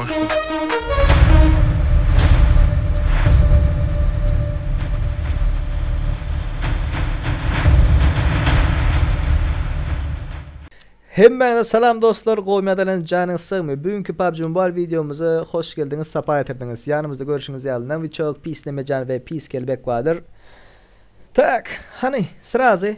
Hemmäňize salam dostlar, gowy medelän janyňyz sagmy? Bu günki PUBG Mobile wideomyza hoş geldiňiz, sapa getirdiňiz. Ýanymyzda görşüňiz ýaly Noviçok, Pis Nemejan we Pis Kelbek bardyr. Tak, hany, srazy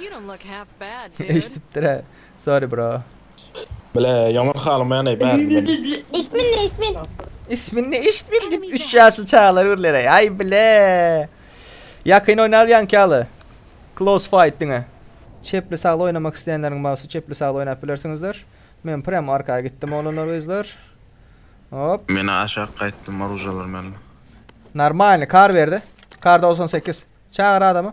You don't look half bad, dude. Eşdipdirä. Sorry bro. Bile, ýaman halamaýan-eý bärini meniň. Ismin ne ismin? Ismin ne ismin dip üç ýaşly çagalar gürleýäý. Aý bile. Ýakyn oýnarys ýaňky ýaly. Close fight diňe. Çepli sagly oýnamak isleýänleriň bagsy çepli sagly oýnap bilersiňizler. Men prem arka gitdim oglanlar gyzlar. Hop. Mena aşak gaýtdym oružalar mella. Normalny kar berdi. Kar dogsan sekiz. Çagyr adamy.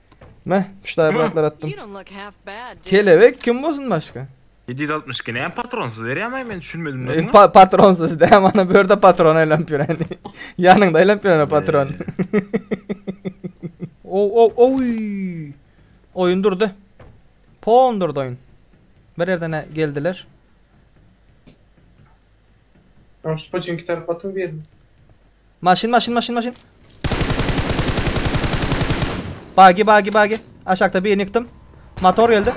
Meh, pişdaýy bratlar atdym. Kelebek kim bolsun başka? 760 ki näme patronsuz berýärmi men düşünmedim näme? E, pa patronsuz dä mana bu ýerde patron aýlanyp ýöräni. Ýanyňda aýlanyp ýöräni patron. o o oý. Oýun durdy. Pon durdy oýun. Bir ýerden geldiler. Tamam şu paçinki tarap atyň birini. Maşyn maşyn maşyn maşyn. Bagi bagi bagi. Aşakda birini yıktım. Motor geldi.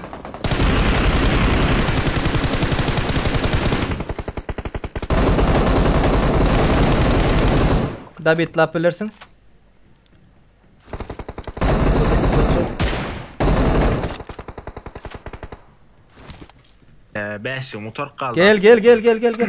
David lap bilirsin. Ee, beşiň mutark kaldı. Gel gel gel gel gel gel.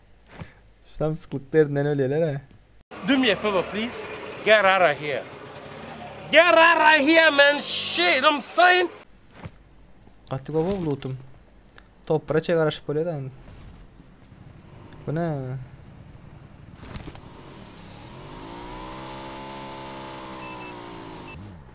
Samsyklyk derdinden ölýäler-ä. Do me a favor please get out of here get out of here man shit im sayin. Gaty gowy gowy lutum. Topara çe garaşyp bolýar da indi. Bu ne?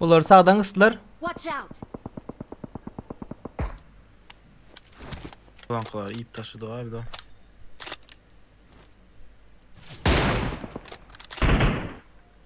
Bular sagdan gysdylar. Watch out! Plankalary iýip taşladyk abi da.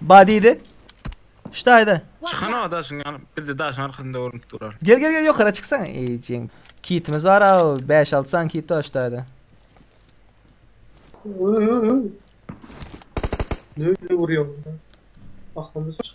Ba diýdi. Şda aýda. Çykan o daşyň ýany. Bizde daşyň arkasynda görünip durar. Gel gel gel ýokara çyksaň. Eýjeň. Kitimiz bar a 5-6 san kit bar şda aýda. Nirde urýaň da. Ahmyr çyk.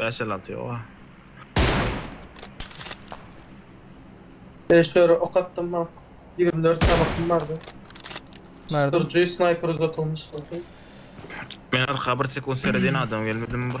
Bäş el alty ýoga. Bäş dörä ok atdym ha. Ýigrimi dört tabakym bardy. Bärde. Sürüji snaýper uzatylmyş bolsa. Men arka bir sekunt seredýän adam gelmedimi bir.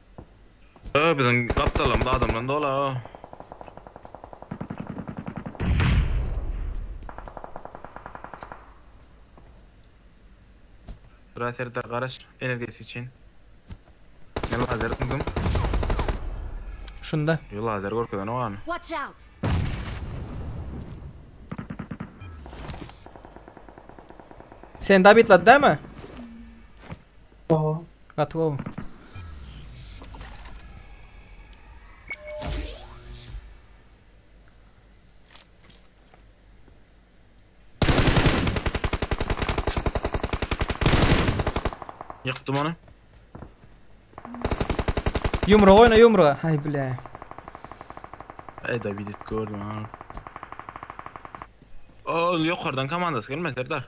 Aga biziň gapdalymyz adamdan doly aga. Raserda garaş energesi için. Ne lazer kurdum. Şunda. Yo lazer görkezen o an. Watch out. Sen David lad değil mi? Gowy. Gaty gowy. Ýykdym ony. Ýumruk oýna ýumruga. Hay bile. Aýda bidet gördüm ha. O ýokardan komandasy gelme Serdar.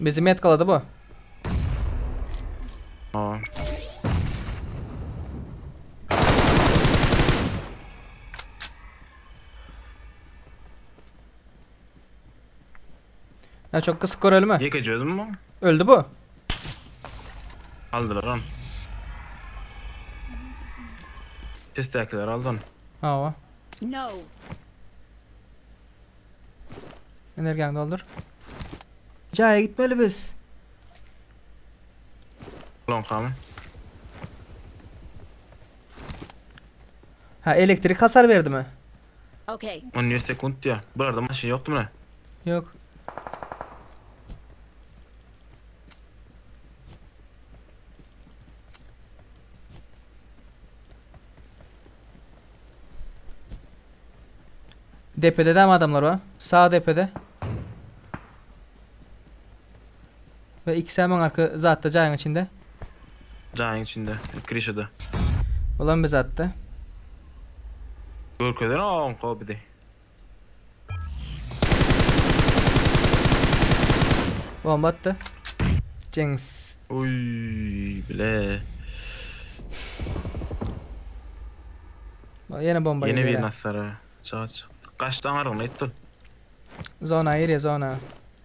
Bizi metkaladı bu. Aa. Ya çok kısık görelim ha. Ýekeje özüm bu. Öldü bu. Aldylar on. Pesdäkiler aldy onu. Hava. No. Energiýany doldur. Jaýa gitmeli biz. Lonkamy. Ha elektrik hasar berdi mi? Okay. On beş sekunt diýýär. Bularda maşyn ýokdumyna? Ýok. Depede dämi adamlar bar? Sag depede. We iki säm aňarky zatda jaýyň içinde. Jaýyň içinde, krişada. Bulam bir zatda. Görkezer a onko bizi. Bomba atdy. Jeňs. Uy bile. Ba- Ýene bomba Yeni bir gelýär. nasara. Çaç. Kaçtan argın ettin. Zona ýeri zona.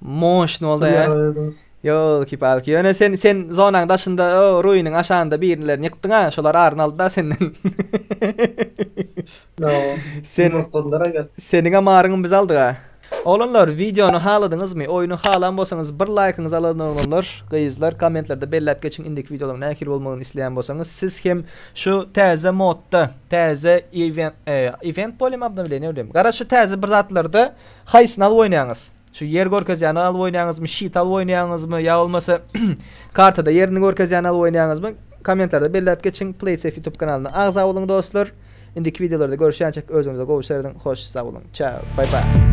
Moşn boldy ya. Yo kip alki. Yöne sen sen zonaň daşynda o ruiniň aşanda birinlerini yıkdyň ha. Şolar aryn aldy da senden. No. Sen boldular aga. Seniň amaryňy biz aldyk ha. Oglanlar videony haladyňyzmy? Oýny halan bolsaňyz bir laýkyňyzy alalyn oglanlar, gyzlar kommentlerde belläp geçiň indiki videolaryň nähili bolmagyny isleýän bolsaňyz. Siz hem şu täze modda, täze event, e, event bolýamy obnowleniýe bolýamy? Garaşy täze bir zatlarda haýsyny alyp oýnaýaňyz? Şu ýer görkezýäni alyp oýnaýaňyzmy, şit alyp oýnaýaňyzmy ýa bolmasa kartada ýerini görkezýäni alyp oýnaýaňyzmy? Kommentlarda belläp geçiň. Playsafe ýutub kanalyna agza boluň dostlar. Indiki wideolarda görüşýänçek özüňize gowy serediň. Hoş sag boluň. Çao. Bye bye.